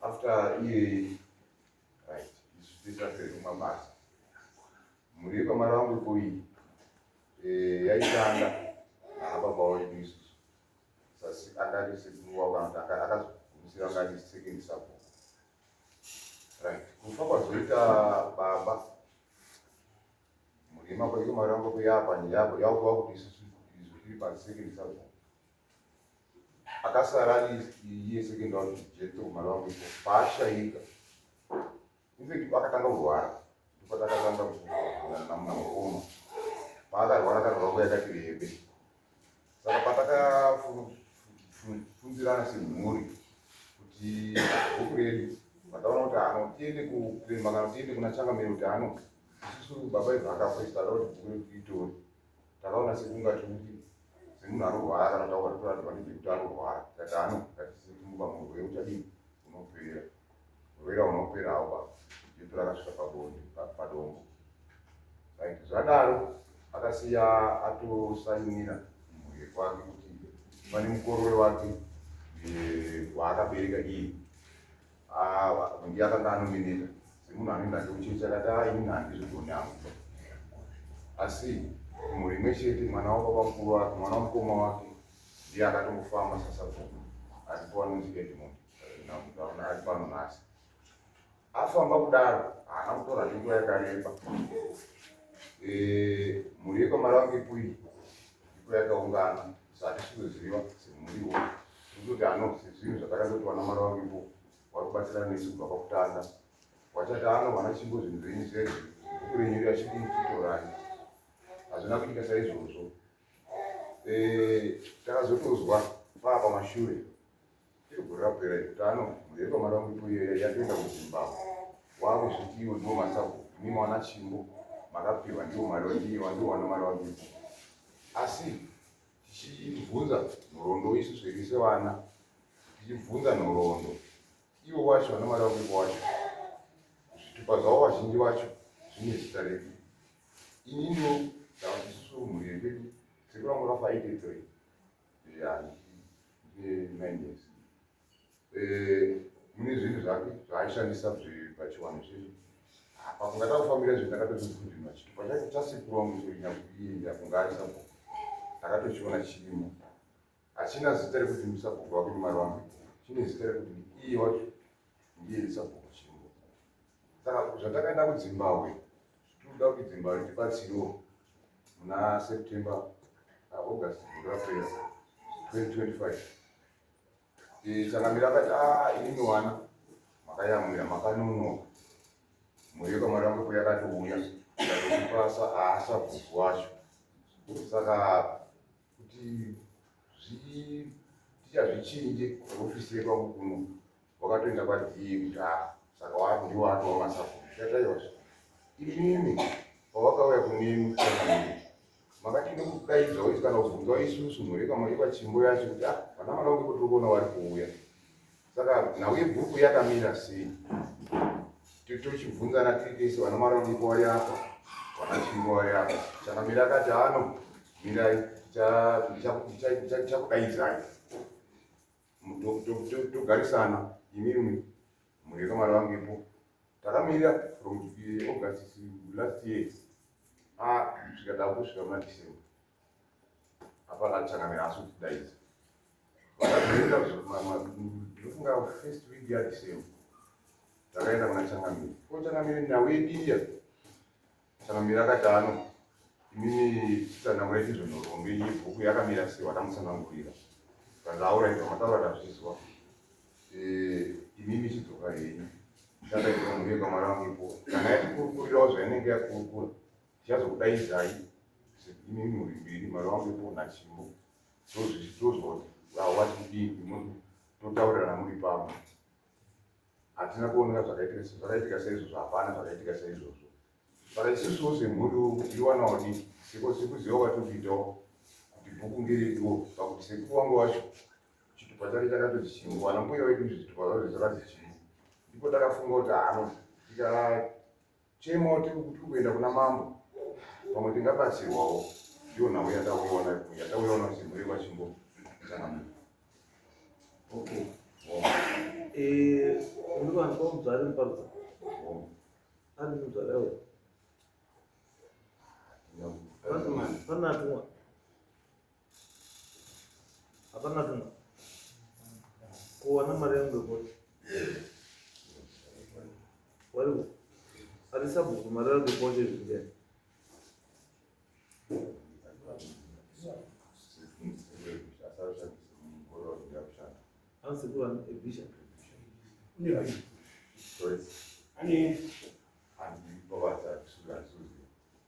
after iyoyi right zvisasekumabasa mhuri yekwamari vangu kuyi eh, yaitanga naababao yedu isusu sasi akati sekuwakanga akazogumisira ngati second support right kufa kwazoita baba mhuri yemakwaiko mari vangu kuyaapa nyaya yavo yakuva kuti isusu izvo tiri pasecond support akasara ari iye second one jeto mwana wangu ipo paashaika infact akatanga kurwara ndipatakatanga namnaoma paakarwara akarwara nguva yakati rebe saka patakafunzirana semhuri kuti bhuku redu vataona kuti hano tiende kuprema kana tiende kuna changamiro kuti hano isusu baba ibva akafa isitaura kuti bhuku redu tiitore takaona sekunga timuti semunhu anorwara kana taura toratidza kuti ndekuti anorwara tikati ano ngatisimuka murwere uchadii unopera murwere unopera awa jesu rakasvika pabonde padombo right zvadaro akasiya atosainira mhuri kwake kuti pane mukorore wake waakabereka iyi Awa ndiye akanga anoneneka semunhu anenge achiuchechi akati aa ini handizvigoni angu asi mhuri imwe chete mwana wababa mukuru wake mwana wamukoma wake ndiye akatongofamba sasabvuma asipo anonzi edmond namudaona ari pano nhasi afamba kudaro haana kutora zvenguva yakareba mhuri yekwamari vange pui iko yakaungana sati sikuziva semuriwo Ndikuti anobse zvinhu zvatakandoti vana mwana wangu ipo wari kubatsira nesu kubva pakutanga. Wachati ano vana chimbo zvinhu zvenyu zvezvo bhuku renyu riya chidii titorai. Hazvina kuita saizvozvo. Eh, takazotozwa paa pamashure. Tiri gore rapera iri kuti ano mhuri yepamwana wangu ipo iyoya yatoenda kuzimbabwe. Wakuzviti iwo ndiwo masabhuku mimi wana chimbo makapiwa ndiwo mari ndiwo ndiwo wana mari wangu ipo. Asi tichibvunza nhoroondo isu zviri sevana tichibvunza nhoroondo ivo vacho vana mari vakuko wacho zvitupa zvavo vazhinji vacho zvine zita redu inini ndavati isusu mhuri yekwedu tiri kuramba rafa aitedzoi yani nine years eh, mune zvinhu zvake zvaaishandisa pachiwanhu chedu pakungada kufambira zvinhu ndakatochikundima chii pachaiti chasikurwa muinyakuyinda kunga ari sabhuku ndakatochiona chirimo hachina zita rekuti musabhuku wako nemari wangu chine zita rekuti iye wacho ndiye sabhuku chimo saka zvatakaenda kudzimbabwe tinoda kuti dzimbabwe tibatsirewo muna september august rapera 2025 Eh, Changamire akati ah imi wana makayamwira makanonoka mweyo kamwana wangu kuya akatouya ndakupasa haasa bhuku wacho saka kuti zvi- tichazvichinje ofisi yekwangu kuno wakatoenda kwadii kuti a ah, saka waku ndiwo atova masabhuku tataiwazve imimi pavakauya kunemi kusanamii makati nekudaidza waiti kana kubvunza waisusu mhureka maikwa chimbo yacho kuti a ah, vana mwana wangu kutiri kuona wari kuuya saka nhau yebhuku yakamira sei tochibvunzana tiri tese vana mwana wangu iko wari apa vana chimbo wari apa chakamira akati ano mirai ndichakudaidzai togarisana imimi mune kamari vangepo takamirira from august last year asvika ah, takusvika muna december apana achangamira asi kuti daidzi vakazoenda ndofunga first week yadecember takaenda kuna changamiri ko changamiri nhau yediya Takamira katano imini kana mwaiti zvinhorombo iyi bhuku yakamira sei watamusanangurira tandaura ita mataura tazvizwa imimi chidzoka henyu takaita mune kamwana wangu ipo kana yatikurukurirawo zvainenge yakurukura tichazokudaidzai imimi muri mbiri mwana wangu ipo nachimo tozvoti wawati kudii imoti totaurirana muri pamwe hatina kuoneka zvakaitika zvakaitika seizvozvo hapana zvakaitika seizvozvo but isusuwo semhuri iwanawo di siko sikuziva kwatiri kuitawo kuti bhuku ngereduwo pakuti sekuru wangu wacho chitupa chake chakatoti chimwe wana mbuya wedu zvitupa zvacho zvakati chimwe ndipo takafunga kuti hano tikaaita Chema tiri kuenda kuna mambo pamwe tingabatsirwawo ndiyo nhau yatauyaona yatauyaona kuchimhuri kwachimbo chana okay eh unova kwa mzali mpaka ani mzali awe Fanatu Hapana kana kuwana mari yangu yekuti wariwo ari sabhuku mari yangu yekuti zvingani ansekuru ane ebisha ane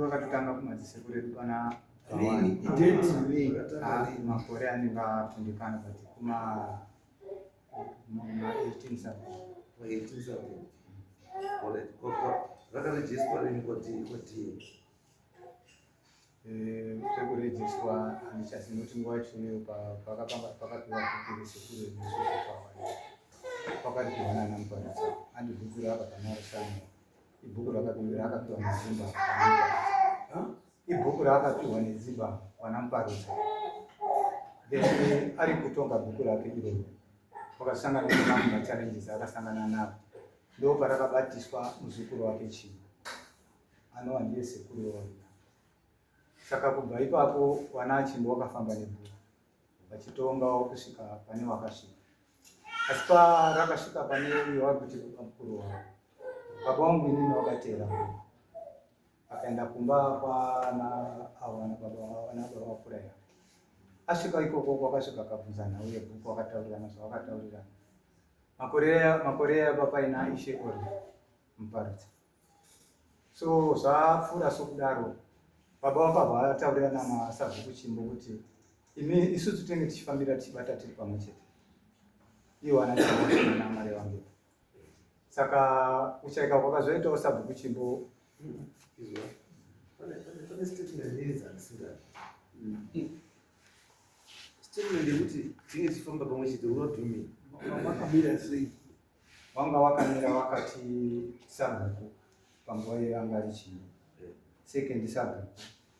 vakatotanga kumadziseko redu pana makore anenge atundikana but kuma zvakarejiswa rini kodii kodii Eh, zvekurejiswa handichazi nekuti nguva yachoneyo pakapiwa kukuru sekuru pakati kuona ana muparisa andi bhuku raakapanaro sano ibhuku rakakumbira akapiwa mazimba ibhuku raakapihwa nedziva mwana muparudzi then ari kutonga bhuku rake iroro wakasangana nemamwe machallenges akasangana navo ndo parakabatiswa muzukuru wake chii anova ndiye sekuru wevarina saka kubva ipapo wana achimbo wakafamba nebhuku vachitongawo kusvika pane wakasvika asi parakasvika pane uyo vari kuti baba mukuru wavo baba wangu inini wakateera akaenda kumba kwana avo vana baba vana baba vafuraya asvika ikoko kwakasvika akabvunza nhau yebhuku akataurirana zvavakataurirana makore yaba paina ishe or muparutsa so zvapfuura sokudaro baba vakabva vataurirana nasabhuku chimbo kuti imi isusu tinenge tichifambira tichibata tiri pamwe chete iwana mari vangu saka kuchaika kwakazoitawo sabhuku chimbo statement yekuti tinge tichifamba pamwe chete urodumi wakamira sei wanga wakamira wakati sabhuku panguva iyo anga ari chimbo second sabhuku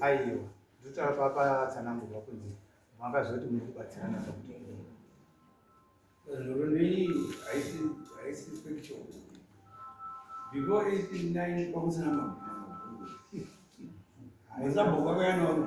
aiwa ndotara papatsanangurwa kunzi makazoti muri kubatsirana zvakuti Roronei haisi haisi factual. Before 89 kwakusina mabhuku. Haisa bhuku akayana wani.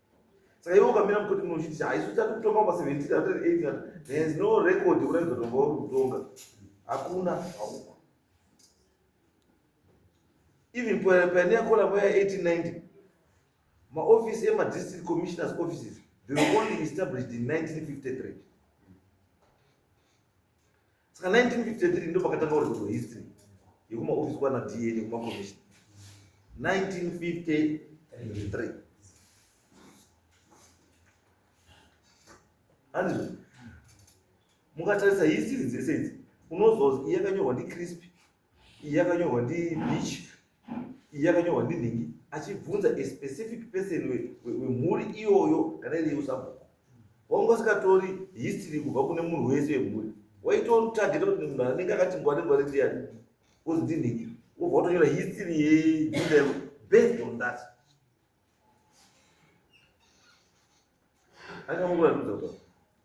saka iwe ukamira mukoti munochitisha haisi uchati kutonga pa 17 there is no record kuratidza kuti wanga uri kutonga hakuna hauko even pane yakona moya 1890 maofisi emadistrict commissioners offices they were only established in 1953 saka 1953 ndo pakatanga uri kuto history yekumaofisi kwana da nekumakomishina 1953 hanzi mukatarisa history dzese idzi unozozi iyakanyorwa ndicrispy iyi yakanyorwa ndi beach iyi yakanyorwa ndi nhingi achibvunza a specific person wemhuri iyoyo kana iri yeusabhuku wanga usikatori history kubva kune munhu wese wemhuri waitorutageta kuti munhu anenge akati ngwari ngwari ndiyani ozi ndi nhingi wobva watonyora history yejinda yako based on that angamukuratidza kuti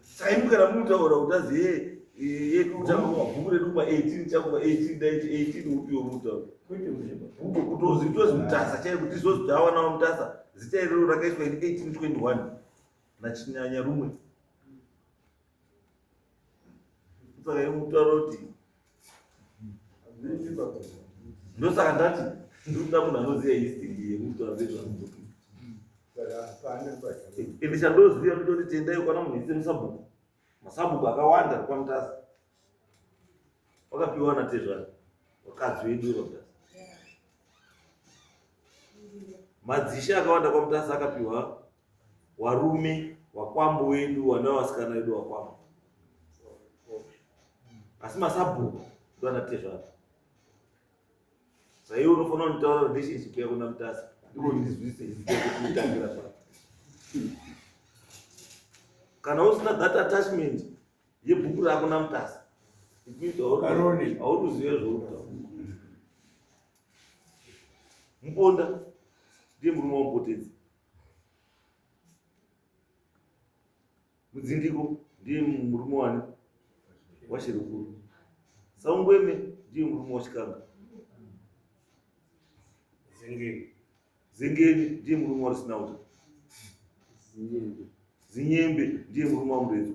Saimu kana mutaura kuti azi ye ye kutanga kwa bhuku redu kwa 18 chako kwa 18 dai 18 upi yo mutaura. Kwete muzvimba. Bhuku kutozi kutozi mutasa chaiye kuti zvozi tawa nawo mutasa zita iroro rakaiswa in 1821 na chinyanya rumwe. Saka ye mutaura kuti ndosaka ndati ndikuda munhu anoziva histori yemutu avezvamuzopi ende chandoziva nditoti tendai kwana munhu ise musabhuku masabhuku akawanda ari kwamutasa wakapiwa na tezvani wakadzi wedu kwamutasa madzishe akawanda kwamutasa akapiwa warume wakwambo wedu wana wasikana wedu wakwambo asi masabhuku ndo anatezvaro saiwe unofanira kunditaura relationship yako namutasa ndiko ndizwise kutangira pa kana usina that attachment yebhuku rako namutasa auruzive zvoutaura muponda ndiye murume wamupotedzi mudzindiko ndiye murume wani washirukuru saungweme ndiye murume wachikanga zengeni zengeni ndiye murume warisinauta zinyembe ndiye murume wamuredzo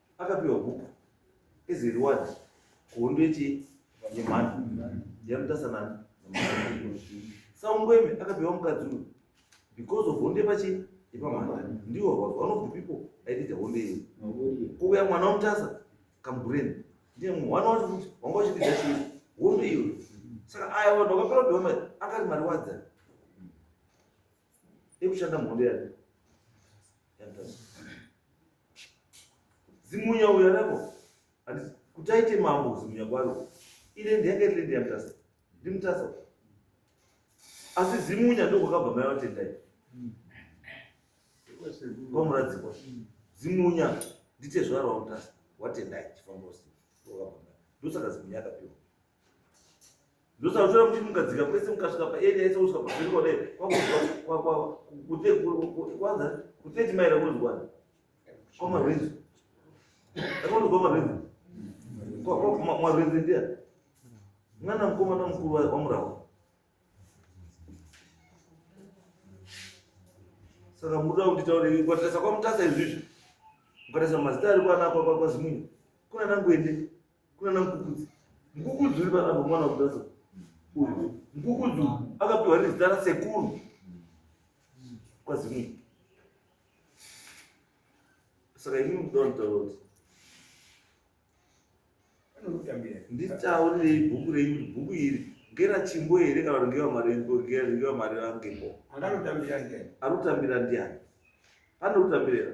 akapiwa huku as a reward kuhondo yechi yemhando yamutasanani saungweme akapiwa mukadzi uyu because of honde pachi ipamhanda ndiwo was one of the people aitita honde iyo kuuya mwana wamutasa kambureni ndiye mwana wacho kuti wanga uchipidza chii honde iyo saka aya vanhu vakapera kuti vamai akari mariwadza ekushanda mhondo yake zimunya uyo arako kuti aite mambo zimunya kwaro ine ndiyake riri ndiyamutasa ndimutasa asi zimunya ndokwakabva mai vatendai kwamuradzikwa zimunya nditezvara wamutasa watendai chifambosi ndosaka zimunya akapiwa ndosaushora kuti mukadzika kwese mukasvika paeri yaise kusvika pavhiriko dai kwakutekwanza kuteti maira kunozikwana kwamarwenzi akunozikwa marwenzi marwenzi ndiya mwana mukomana mukuru wamurawa saka muda kuti taure kwatarisa kwamutasa izvizvi mukatarisa mazita ari kwana kwazimunyu kuna nanguende kunana mukukudzi mukukudzi uri panapa mwana wekutaza uyu mukukudzi akapiwa nezita rasekuru kwazimii saka ini mudawa mutaura kuti nditaurirei bhuku renyu kuti bhuku iri ngera chimbo here kana kuti ngevamarengera mari vangepo anotambira ndiani pane kutambirera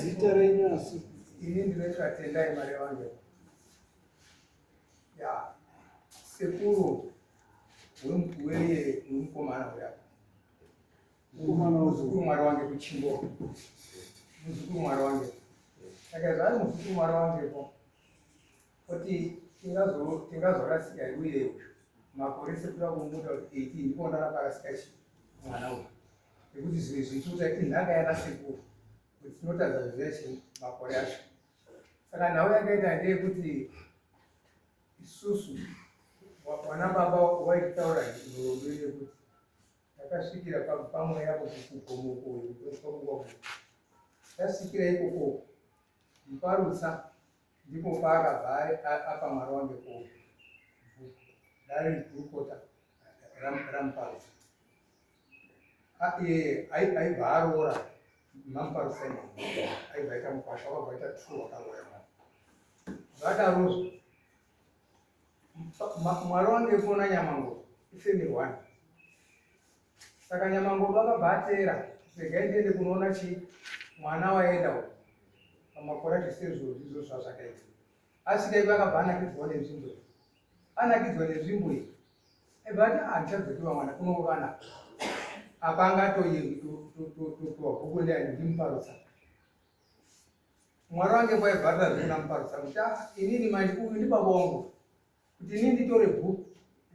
zita renyu asi ini ndinoitwa tendai mari vangu ya sekuru wemkuweye wemukomana uya mukomana muzukuru mwari wange kuchimbo muzukuru mwari wange saka zvaari muzukuru mwari wangepo kuti tingazorasika tingaz uye makore sekuda kumuda kuti 18 ndipo ndaraparasika chi mwana uyu nekuti zvimwe zvichiuta inhaka yana sekuru kuti tinotadza zveshe makore acho saka nhau yakaita ndeyekuti isusu vana baba waitaura nhorombo yekuti ndakasvikira pamwe yapo kugomokoyo tasvikira ikoko mparutsa Ndipo paakabva apa mwari wange ko dare gurukota ramuparusa iyeye aibva aroora mamuparusa aibva aita mukwasha wakabva aita tru wakaroya zvadarozvo mwari wange kona nyamango ifemiri wani Saka Nyamangodo akabva ateera regai ndiende kunoona chii mwana waenda uko pamakore zvese zvozvizvo zvazvakaita asvika ivo akabva anakidzwa nenzvimbo iyi anakidzwa nenzvimbo iyi ebva ati handichadzokiva ah, mwana kunourana apa anga atototototowa bhuku ndiani ndimuparutsa mwari wange kwaibvarira zvekuna muparutsa kuti ah, inini manje uyu ndibaba wangu kuti ini nditore book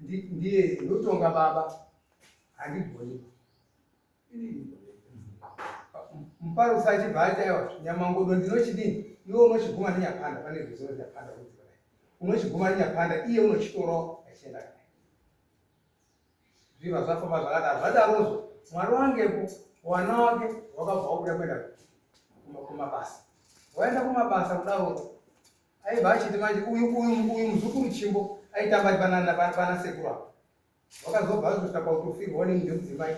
ndiye ndotonga baba handigoni muparo usachibva ati aiwa nyamangodo ndinochidini iwe unochiguma nenyapanda pane zvizo nyapanda unochiguma nenyapanda iye unochitorawo achienda kae zviva zvafamba zvakadaro zvadarozvo mwari wangepo wana wake wakabva wakuda kuenda kumabasa waenda kumabasa kudaroo Aibva achiti manje uyu uyu uyu muzukuru chimbo aitamba ari panana pana sekuru apa. Wakazobva azosvika pautofirwa wani ndomudzimai.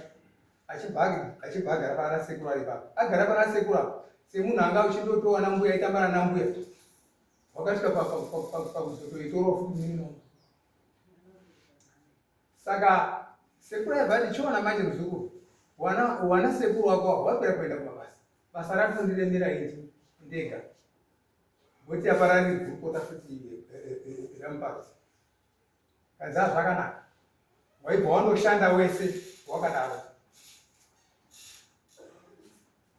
Achibva achibva agara pana sekuru ari papa. Agara pana sekuru apa. Semunhu anga uchindotowa na mbuya aitamba na mbuya. Wakasvika pa pa pa pa pa kuzoto itoro futi mino. Saka sekuru aibva ati chiona manje muzukuru. Wana wana sekuru wako wapera kuenda kumabasa. Basa rakundiremera ini ndega. Boti yaparari gurukota futi rampart. Kanzi hazvakanaka. Waibva wanoshanda wese wakadaro.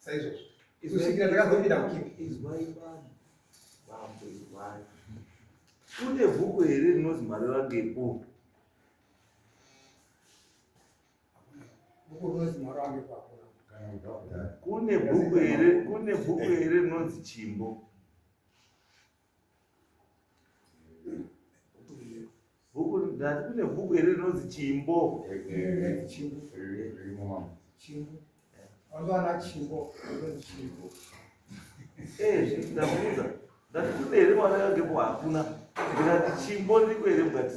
Saizvozvo. Kusvikira takazopinda mukipi. Izwai vanhu. Mambo izwai. Kune bhuku here rinonzi Mareva Ngepo? kune bhuku here kune bhuku here rinonzi chimbo bhuku ndati kune bhuku here rinonzi chimbo ndakuudza ndati kune here mwana yangepo hakuna ndikati chimbo ndiko here mukati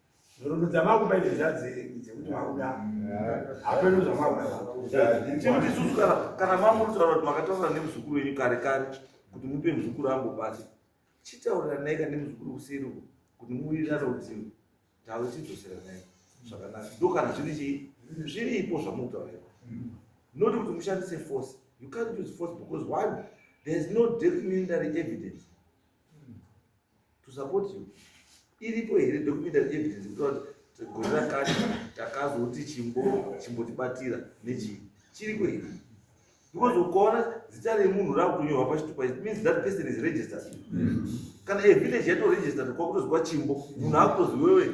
nhoroondo dzamakupa idzo dzadzei dzekuti makuda hapeno zvamakudaikuti isusu kana mamuritaura kuti makataura nemuzukuru wenyu kare kare kuti mupe muzukuru angu basa chitaurira naika nemuzukuru kuseri uko kuti muwirirana kuti tave chidzosera naika zvakanaka ndo kana zviri chii zviripo zvamutaurira not kuti mushandise force you can't use force because one there is no documentary evidence to support you iripo here documentary evidence kutaura kuti gore rakati takazoti chimbo chimbotibatira nechii chiriko here because ukaona zita remunhu rakutonyorwa pachitupa it means that person is registered kana evillage yatoregistered kwakutoziwa chimbo munhu akutoziwewe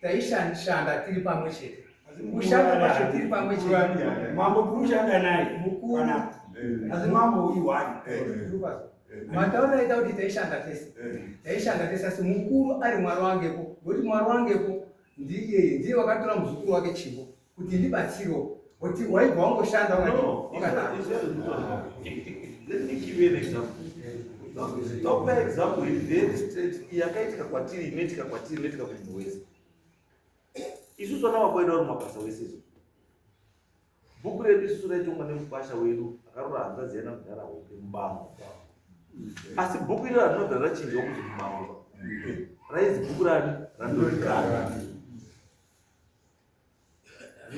taishanda tiri pamwe chete kushanda kwacho tiri pamwe chete mambo kurushanda naye mukuru asi mambo iwani mataura aita kuti taishanda tese taishanda tese asi mukuru ari mwari wangepo ngokuti mwari wangepo ndiye ndiye wakatora muzukuru wake chimbo kuti ndibatsiro but waibva wangoshanda tokupa example iri very straight yakaitika kwatiri inoitika kwatiri inoitika kumunhu wese isusu vana vakuenda vari mabasa wese izvo bhuku redu isusu raitongwa nemukwasha wedu akarora hanzadzi yana kudhara hope mubango asi bhuku iri ranobva rachinjwa kuti mubango raizi bhuku rani randorikana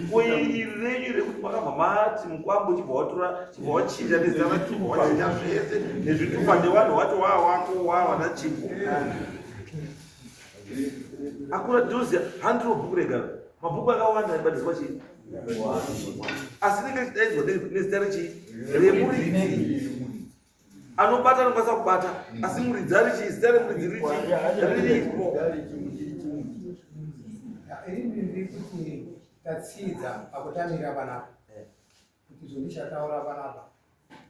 Ngoiri renyu rekuti makabva mati mukwambo chibva watora chibva wachinja nezana chibva wachinja zvese nezvitupa nevanhu wacho waa wako waa vana chimbo. Akura Josia handiro bhuku rega mabhuku akawanda aibatiswa chii asi rinenge richidaidzwa nezita rechii remuridzi anobata anokwanisa kubata mm. asi muridzi ari chii zita remuridzi richiiripo tatsidza pakutamira panapa eh. kuti izvo ndichataura panapa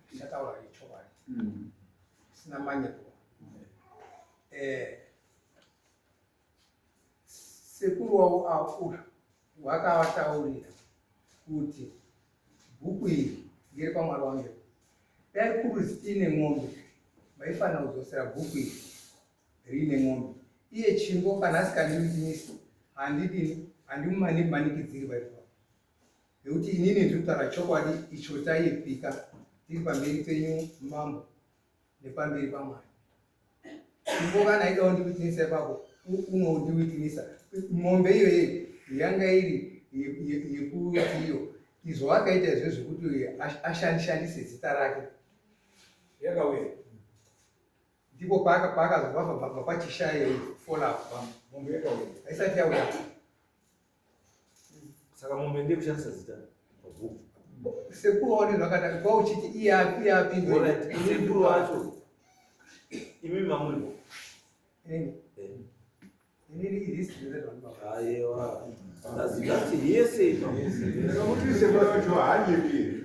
ndichataura ichokwadi mm. sina manyepo eh. eh, Sekuru wavo akura wakavataurira kuti bhuku iri ngere kwamwari wamiro dai kuri ziine n'ombe vaifanira kudzosera bhuku iri riine n'ombe iye chimbo kana asikandimisi handidini handimumanikidziri vaifa nekuti inini ndiri kutaura chokwadi icho taipika tiri pamberi penyu mambo nepamberi pamwari ivo kana aida undiwitinisa ipapo unondiwitinisa mombe iyo ye yanga iri yekuti iyo izvo akaita izvo zvekuti ashandishandise zita rake yakauya ndipo paakazobva pachishaye folapo mombe yakauya aisati yauya saka mombe ndiye kushandisa zita mabhuku sekuru waone zvakadai kwa uchiti iyapi iyapi sekuru wacho imi mamuripo eh. aiwa ndazikati yese inokuti sekuru wacho haanyepi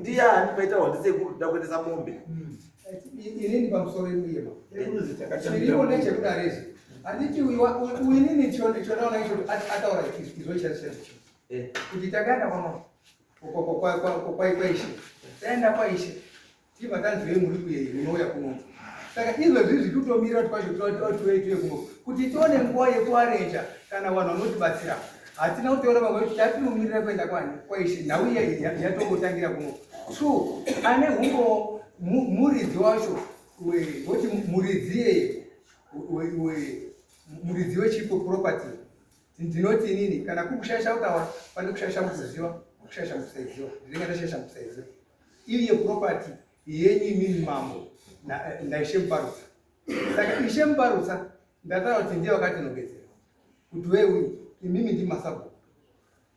ndiyani paita wandi sekuru nda kuendesa mombe hmm. inini pamusoro yemuyema chiriwo nechekudarezi handiti uinini chonaona icho ataura izochashacho eh. kuti takaenda kwama kwaishe taenda kwaishe Tii matanzwei muri kuyei munouya kuno. Saka izvozvi izvi tutomira kwacho tuye kuno kuti tione nguva yekuarenja kana vanhu vanotibatsira. Hatina kutora vamwe kuti tatinomirira kuenda kwani kwaishe nhau iya yatongotangira kuno. True ane humbo muridzi wacho woti muridzi yeye muridzi wechipo property ndinoti inini kana kuri kushaisha kutaura pane kushaisha mukuziva kushaisha mukusaiziva ndinenge ndashaisha mukusaiziva iri yeproperty yenyu imini mambo eh, ndaishe muparutsa saka ishe muparutsa ndataura kuti ndiye vakatinogezera kuti we uyu imimi ndi masabhuku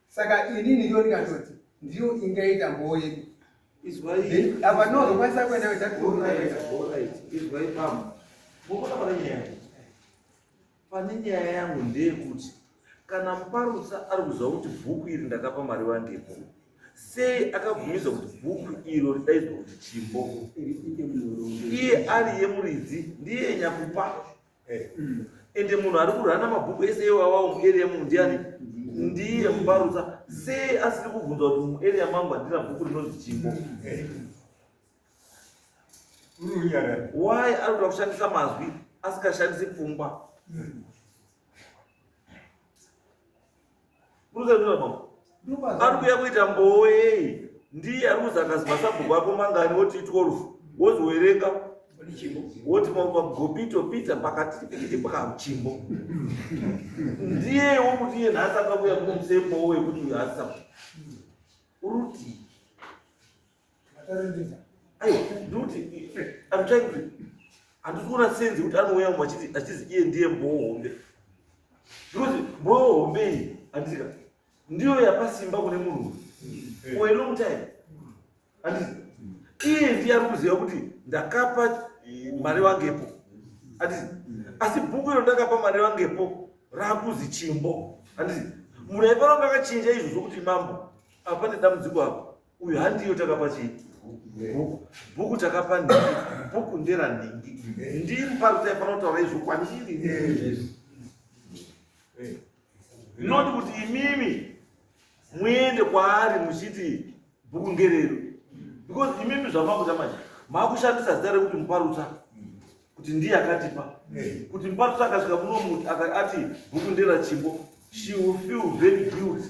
saka inini ndiyo ndikatoti ndiyo ingaita mboo yedu apa ndinozokwanisa kuenda kuita izwai pamwe mukona vara nyaya Pane nyaya yangu ndeyekuti kana muparutsa ari kuziva kuti bhuku iri ndakapa mari vangepo sei akabvumidza kuti bhuku iro ridaidzwa kuti chimbo iye ari yemuridzi ndiye nyakupa eh. ende munhu ari kurana mabhuku ese iwawawo mueria munhu ndiani ndiye muparutsa sei asiri kubvunza kuti mueria mangu handina bhuku rinonzi chimbo eh. why anoda kushandisa mazwi asikashandisi pfungwa ari kuya kuita mboei ndiye ari kuzi akazi masabhuku ako mangani woti 12 wozowerenga woti magopito pita pakati pikiti pakamuchimbo ndiyewo kuti iye nhasi akakuya kunomusembowo wekuti uyo asisa urutii handikuona senzi kuti anouya mumwe achizi iye ndiye mboo hombe because mboo hombe iyi handisika ndiyo yapasimba kune munhu for a long time handisi iye ndiye ari kuziva kuti ndakapa eh, mari vangepo handisi asi bhuku iro ndakapa mari vangepo raakuzi chimbo handisi munhu aifanira kuti akachinja izvo zvokuti mambo apa pane dambudziko apo uyu handiyo takapa chii bhuku bhuku takapa nhingi bhuku ndera nhingi ndiri parutai panotaura izvo kwandiri not kuti imimi muende kwaari muchiti bhuku ngerero because imimi zvamakuta manje makushandisa zita rekuti muparutsa kuti ndiye akatipa kuti muparutsa akasvika muno muti ati bhuku ndera chimbo she will feel very guilty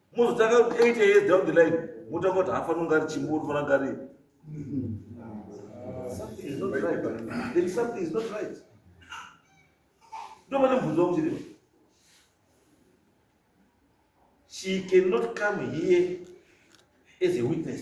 mozotanga 8 years down the line motanga kuti hafa nonga ari chimbo unofana ngari ndovane mubvunzo wakuchiriva she cannot come here as a witness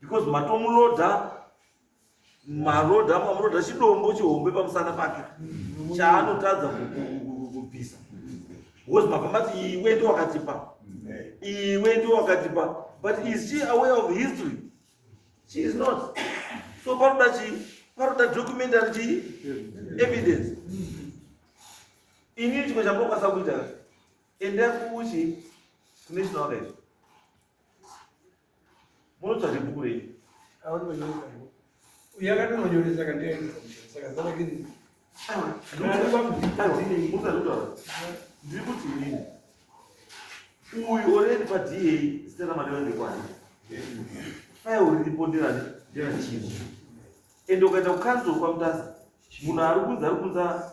because matomuloda maroda mamuroda chidombo chihombe pamusana pake chaanotadza kubvisa because mabva mati iwe ndi wakatipa iwe ndi wakatipa but is she aware of history she is not so paroda chii paroda documentary chii evidence inini chimwe chamokwanisa kuita enda kuchi kunational life Munotsvaga bhuku rei? Uya akatononyoresa kandiaenda saka zava kini. Ndiri kuti inini uyu oredi paDA zita ramadeva ndekwani faya uri ripo ndirani ndirachii ende ukaenda kukanzuru kwamutasa munhu ari kunzi ari kunza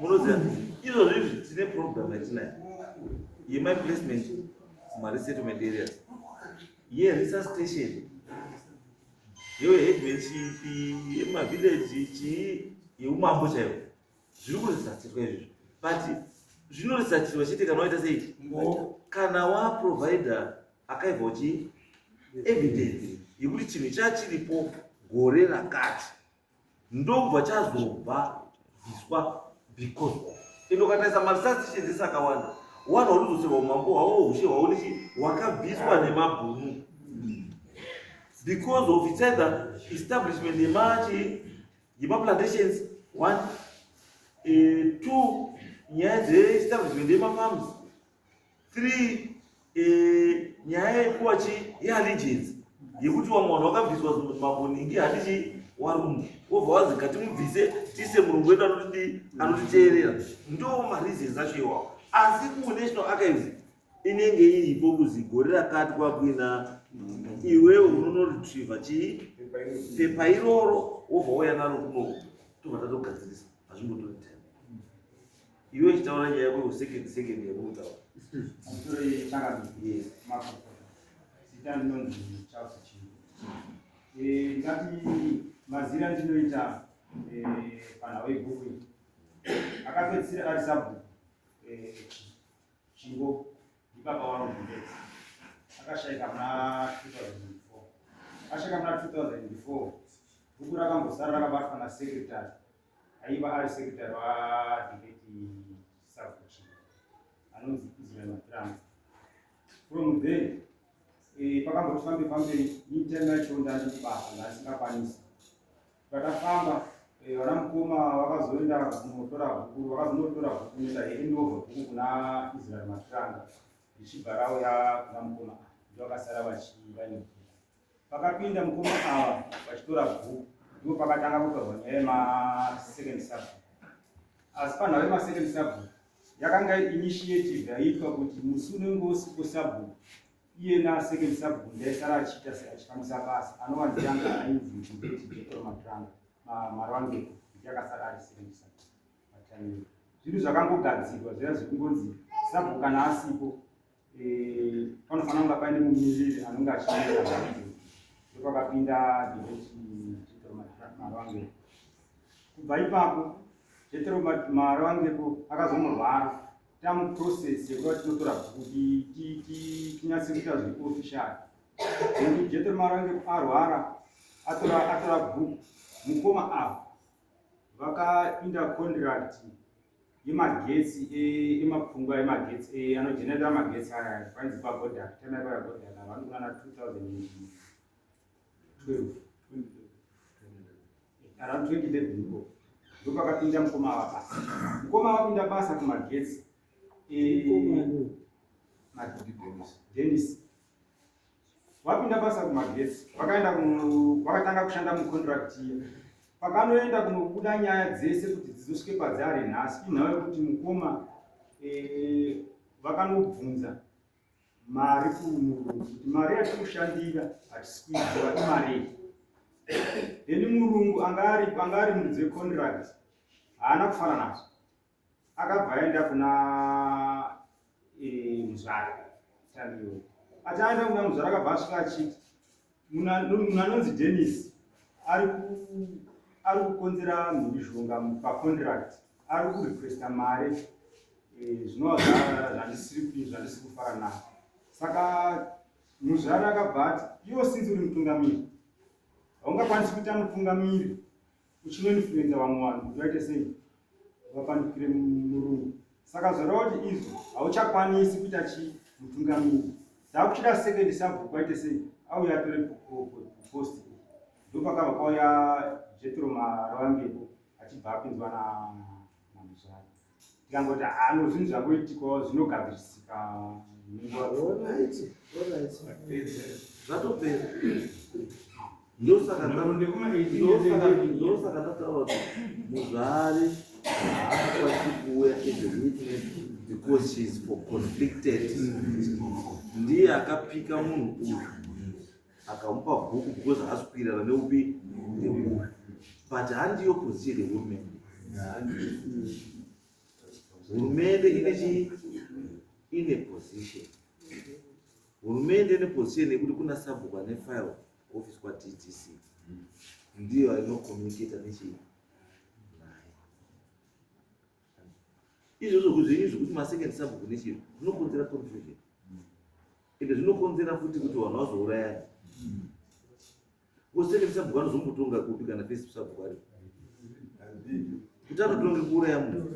munoziva izvozvo izvi tine program yatinayo yema placement mumaresettlement areas yeresearch station yeheadman chipi yemavillaji chii yeumambo chaivo zviri kuresatirwa izvizvo but zvinoresatirwa chete kana waita sei kana waprovider akaibva uchi evidence yekuti chinhu chachiripo gore rakati ndobva chazobva bviswa because of ende ukataisa masatishenzi sakawanda wana unodzoserwa umambo hwawo ushe hwaunichi hwakabviswa nemabhunu because of its either establishment yemachi yemaplantations one uh, two nyaya dzeestablishment yemafarms three eh, nyaya yekuwa chi yeallegiance yekuti wamwe vanhu vakabviswa maboningi handichi warungu wobva wazi ngatimubvise tiise murungu wedu anotidi anotiteerera ndo mareasons acho iwawo asi kunational archives inenge iripo kuzi gore rakati kwakuina iwewe unonoretriva chii pepa iroro wobva wauya naro kunoku tobva tatogadzirisa hazvimbotoita Iwe chitaura nyaya yako second second yabuda. Sorry, chaka. Yes. Mako. Sitani non chausa chini. Eh, ngati mazira ndinoita eh pana we bhuku. Akapedzisira ari sabu. Eh, chingo ndibaba wangu ndetse. Akashaika muna 2004. Akashaika muna 2004. Bhuku rakambosara rakabatwa na secretary. aiva ari sekretary vadhibeti savuchi anonzi israel matrans from then eh, pakamboti fambe fambe intern yacho ndati kubasa ndasingakwanisi patakafamba eh, vana mukoma vakazoenda kunotora bhuku vakazonotora bhuku neta endova bhuku kuna israel matranga ichibva rauya kuna mukoma ndovakasara vachivaine bhuku Pakapinda mukoma ava vachitora bhuku ndipo pakatanga kutorwa nyaya yemasecond subject. Asi panhau yemasecond subject yakanga initiative yaiitwa kuti musi unenge usipo subject iyena second subject ndaisara achiita seachifambisa basa anova ndiyanga ainzi mchibeti jetora matranga marwangeko kuti akasara ari second subject pataniro. Zvinhu zvakangogadzirwa zviya zvekungonzi subject kana asipo panofanira kunga paine mumiriri anonge achimirira vanhu ndopakapinda dhevechimaroangepo kubva ipapo jetero maroangepo akazomurwara tamuprocess yekuva tinotora kuti tinyatse kuita zveofficial nekuti jetero maroangepo arwara atora bhuku mukoma avo vakapinda contract emagetsi emapfungwa emagetsi anogenera magetsi aya panzi pagodak tana pagodak avani kunana 2012 around 2011 ko ndopakapinda mukoma ava basa mukoma avapinda basa kumagetsi denis vapinda basa kumagetsi vakaenda vakatanga kushanda mucontract iya pakanoenda kunobuda nyaya dzese kuti dzizosvike padzaari nhasi inhau yekuti mukoma eh, vakanobvunza mari kumurungu kuti mari yatiri kushandira hatisikuiziva imarii then murungu anga ari muridzi wecontract haana kufara nazvo akabva aenda kuna eh, muzvara tariwo achaenda kuna muzvara akabva asvika achiti munhu anonzi denis ari kukonzera mhurishonga pacontract ari kurequesta mari eh, zvinova zvandisiri kufara navo saka muzvara akabva ati iwo sinzi uri mutungamiri haungakwanisi kuita mutungamiri uchinoinfluenza vamwe vanhu kuti vaite sei vapandukire murungu saka zvoreva kuti izvi hauchakwanisi kuita chii mutungamiri dzakuchida second sabhuku aite sei auya atore post ndopakabva kwauya jetro marawangepo achibva apinzwa namuzvare tikangoti hano zvinhu zvangoitikawo zvinogadzirisika zvatopera ndosaka ndataura kuti muzvare haakwanisi kuuya as a witness because she is for conflicted ndiye akapika munhu uyu akamupa bhuku because haasi kuirana neupi neupi but handiyo position yehurumende hurumende ine chii ine position hurumende ine position yekuti kuna sabhuku ane file kuoffice kwadc ndiyo ainokomunicata nechii naye izvozvo kuzvinyi zvekuti masecond sabhuku nechii zvinokonzera confusion ende zvinokonzera futi kuti vanhu vazourayana koseke sabhuku anozombotonga kupi kana fesi sabhuku ari kuti anotonge kuuraya munhu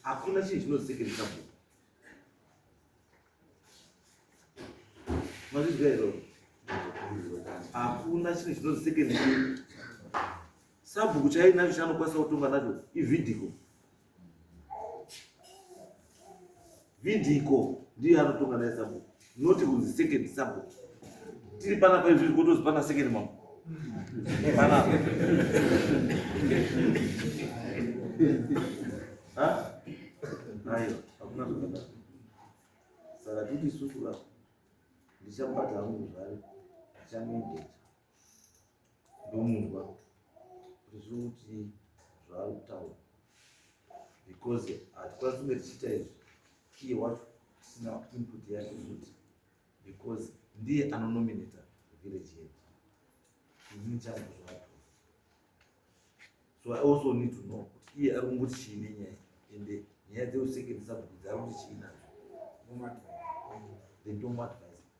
hakuna chinhu chinoziseke nesabhuku mazvizwa iro hakuna chinhu chinoziseke ne sabhuku chainacho chanokwanisa kutonga nacho ividiko vindiko ndiye anotonga naye sabhuku not kunzi second sabhuku tiri pana paizviri kotozi pana second mambo pana ayo hakuna zvakadaro saka titi isusu ka ndichamubata hangu zvare ndichamuendesa ndomunzwa kuti zviri kuti zvaari kutaura because hatikwanisi kunge tichiita izvi iye wacho tisina input yake kuti because ndiye anonominata village head ini changu zvato so i also need to know kuti iye ari kungoti chii nenyaya ende nyaya dzeusekedzisa kuti dzari kuti chii nazo ndomadvise then ndomadvise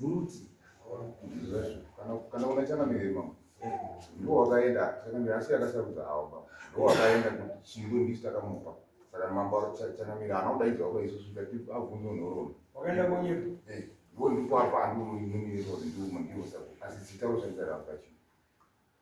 Muti. Kana kana una chana mire mama. Ndo wakaenda chana mire asi akasarudza awo baba. Ndo wakaenda kuti chingwe ndisi takamupa. Saka mambo chana mire anoda idzo wako isu sika tipa avunzo nhororo. Wakaenda konyepo. Eh. Ndo ndipo apa ando mune mire ndo ndiwo saka asi sitawo shandira rapa chingwe.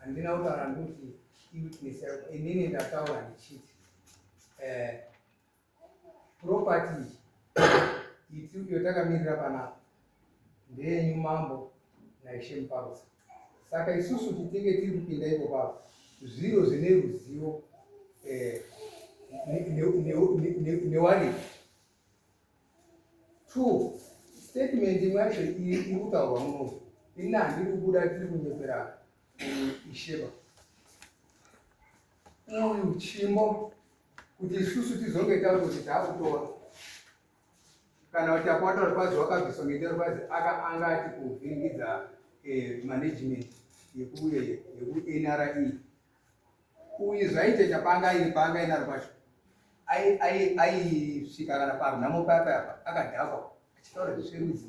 handina kutaura ndikuti iwitness yako inini ndataura ndichiti eh, property iti iyo takamirira panapa ndeyenyu mambo naishe muparusa Saka isusu titinge tiri kupinda ipo pavo zviro zvine ruzivo eh, newariri two statement imwe yacho iri kutaurwa muno ini handiri kubuda tiri kunyepera isheba uyu chimbo kuti isusu tizonge takuti takutora kana kuti apo wataura kwazi wakabviswa ngendaa kwazi aka anga ati kuvhiringidza eh, management yekuuye yekunra e. uyu zvaite chapanga iri panga inaro kwacho aisvika kana parunhamo paya payapa akadhakwa achitaura zvisverudzi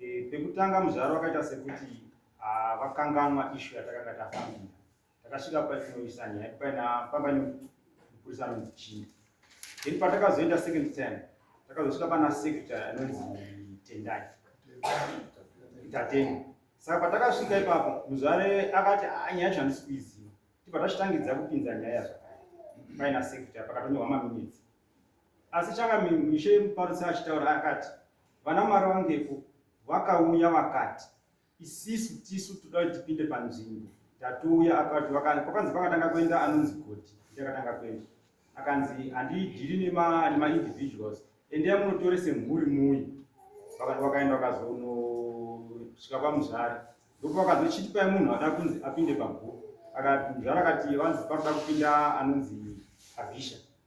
E, pekutanga muzvaro wakaita sekuti ah, vakanganwa uh, ishu yatakanga tafambira. Takasvika patinoisa nyaya paina pamba nemupurisa anonzi Chinda. Then patakazoenda second time takazosvika pana secretary anonzi Tendai Tateni. Saka patakasvika ipapo muzvare akati ah, nyaya yacho handisi kuiziva. Tibva tachitangidza kupinza nyaya zvakare paina secretary pakatonyorwa maminitsi Asi Changamire Mishe Muparutsi achitaura akati vana Mwari vangepo vakauya vakati isisu tisu toda kuti tipinde panzvimbo tatouya akati vakanzi kwakanzi pakatanga kuenda anonzi goti ndiakatanga kuenda akanzi handidhiri nemaindividuals endea munotore semhuri muuyi vakati vakaenda vakazonosvika pamuzvare ndopo vakazochitipai munhu ada kunzi apinde pabhuku akati muzvare akati vanzi pakuda kupinda anonzi abhisha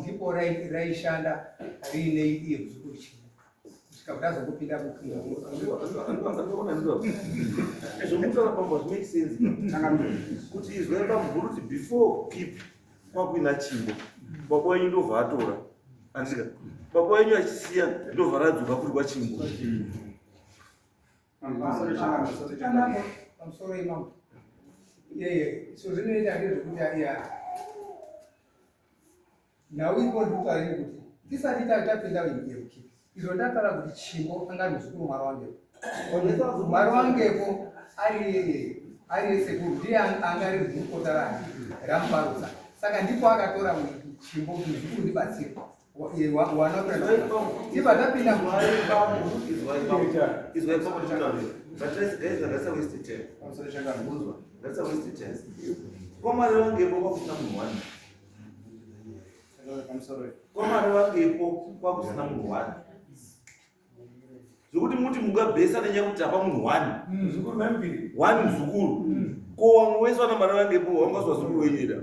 ndipo raishanda riine iye kuzukuru chii zvikakutazokupinda mukuzvokutaura pamba zvimake sense kuti izwa bamukuru kuti before kip kwakuina chimbo baba wenyu ndobva atora andika baba wenyu achisiya ndobva radzoka kuri kwachimbo nhau iko ndikutarini kuti tisati tapinda yemuki izvo ndakara kuti chimbo anga muzukuru mwari wangepo mwari wangepo ari ari yesekuru ndiye anga ari mukota rangu ramubarutsa saka ndipo akatora chimbo kuti zvikuru ndibatsirwa kwamwari vangepo kwakusina munhu wani kwamwari vangepo kwakusina munhu wani zvekuti muti mungabhesa nenyaya kuti hapa munhu wani mm. wani muzukuru mm. ko wamwe wese vana mari vangepo wangazwa zukuru wenyira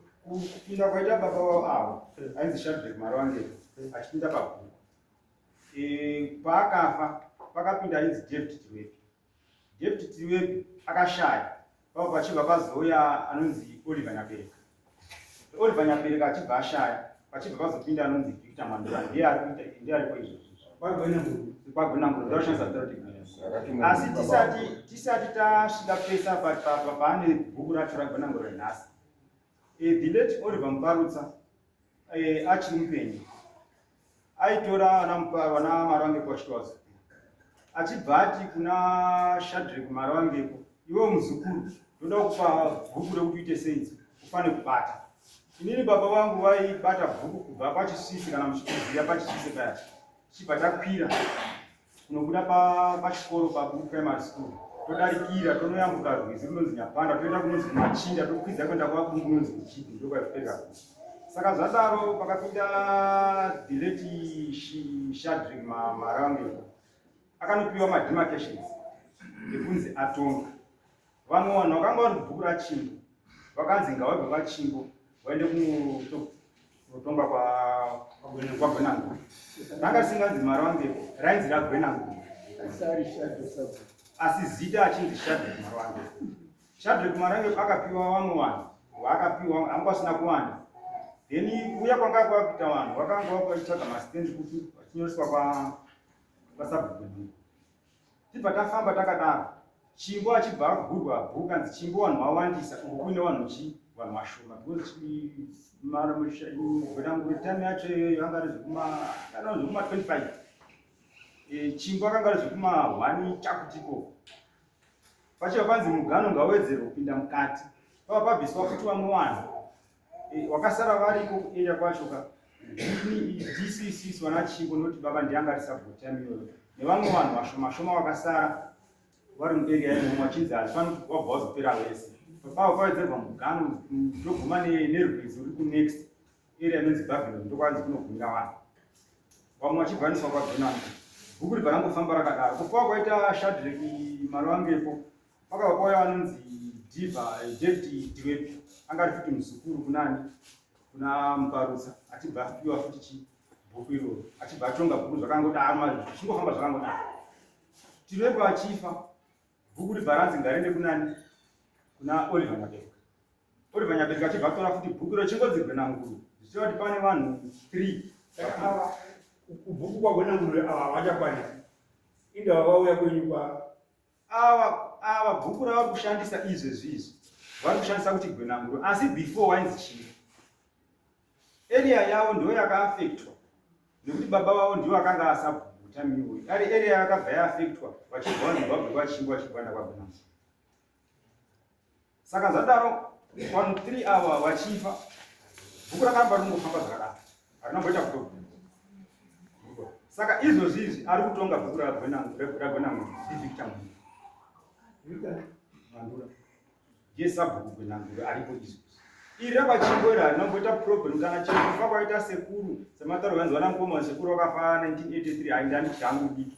kupinda kwaita baba vavo avo ainzi shadrek mari wange achipinda pabhuku e, paakafa pakapinda ainzi david tiwepi david tiwepi akashaya pavo pachibva pazouya anonzi oliver nyabereka oliver nyabereka achibva ashaya pachibva pazopinda anonzi victor mandura ndiye ari kuita ndiye ariko izvozvo asi tisati tasvika pesa paane bhuku racho ragwenanguro nhasi E, the late Oliver Muparutsa e, achiri mupenyu aitora ana Mupa- vana Marange kwaShitwaza achibva ati kuna Shadrek Marangeko, iwe muzukuru, ndoda kupa bhuku rekuti uite senzi, ufane kubata. Inini baba vangu vaibata bhuku kubva pachisisi kana muchikuziya pachisisi paya, tichibva takwira Tinobuda pachikoro pa paBuku Primary School todarikira tonoyambuka rwizi runonzi Nyapanda toenda kunonzi kumachinda tokwidza kuenda kwaBungu kunonzi kuchipi ndokwazvipera saka zvadaro pakapinda deleti Shadrick Marange akanopiwa mademarcations ekunzi atonga vamwe vanhu vakanga vari mubhuku rachimbo vakanzi ngavabve kwachimbo vaende kunotonga kwagwenangu ranga risinganzi mari wangeko rainzi ragwenangu asi zita achinzi shadrek mari wange shadrek mari wange akapiwa vamwe vanhu vaakapiwa anga vasina kuwanda then uya kwanga kwakuita vanhu vakanga vakuvaitsvaga masitendi kuti vachinyoreswa kwasabhuku Tibva tafamba takadaro. Chimbo achibva agurwa bhoo kanzi chimbo vanhu vawandisa uku kuine vanhu chi vanhu vashoma because gwenanguri time yacho iyoyo anga ari zvekuma kana zvekuma 25 e, chimbo akanga ari zvekuma 1 chakutiko pachiva panzi mugano ngawedzere kupinda mukati pava pabviswa futi vamwe vanhu Eh, wakasara variko kuarea kwacho ka dcc vana chimbo noti baba ndianga ari subgo time iyoyo nevamwe vanhu vashoma shoma vakasara vari muarea imomo vachinzi hazvifani kuti wabva wazopera wese pao kwawedzerwa mugano ndoguma nerwizi uri kunext area inonzi babylon ndokwanzi kunogumira vanhu vamwe vachibvaniswa kwabenani bhuku ribva rangofamba rakadaro kufa kwaita shadreki mari wangepo Kwakabva kwauya vanonzi Diva David Diwepi anga ari futi muzukuru kunani kuna Muparutsa achibva apiwa futi chi bhuku iroro achibva atonga bhuku zvakangodaro mazvo zvichingofamba zvakangodaro Diwepi achifa bhuku ribva ranzi ngariende kunani kuna Oliver Nyabereka Oliver Nyabereka achibva atora futi bhuku iroro chingonzi Gwenanguru zvichireva kuti pane vanhu 3 kubhuku kwagwenanguru ava havachakwanisa indava vauya kwenyu kwa ava ava bhuku ravari kushandisa izvezvi izvi vari kushandisa kuti gwenanguro asi before wainzi chii area yavo ndo yakaafektwa nekuti baba vavo ndivo akanga asabutamiwe ari area yakabva yaafektwa vachibva vazimbabwe vachingwa chigwanda kwagwenanguro saka zvadaro vanhu three ava vachifa bhuku rakaramba rinongofamba zvakadaro harina kumboita kutobvuma saka izvozvi izvi ari kutonga bhuku ragwenangu ivictor mandura ndiye sabhuku gwenanguro aripo izvozvi iri rapachingo iri harina kumboita problem kana chekufa kwaita sekuru semataro vanzi vana mukoma sekuru vakafa 1983 haindandidyangu diki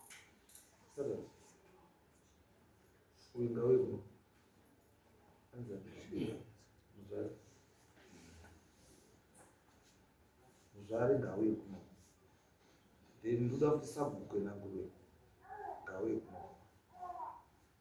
uyu ngauye kuno anza muzvare muzvare ngauye kuno then ndoda kuti sabhuku enanguruwe ngauye kuno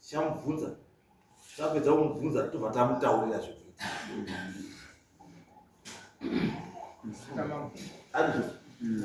tichamubvunza tapedza kumubvunza tobva tamutaurira zvekuita Andrew, mm.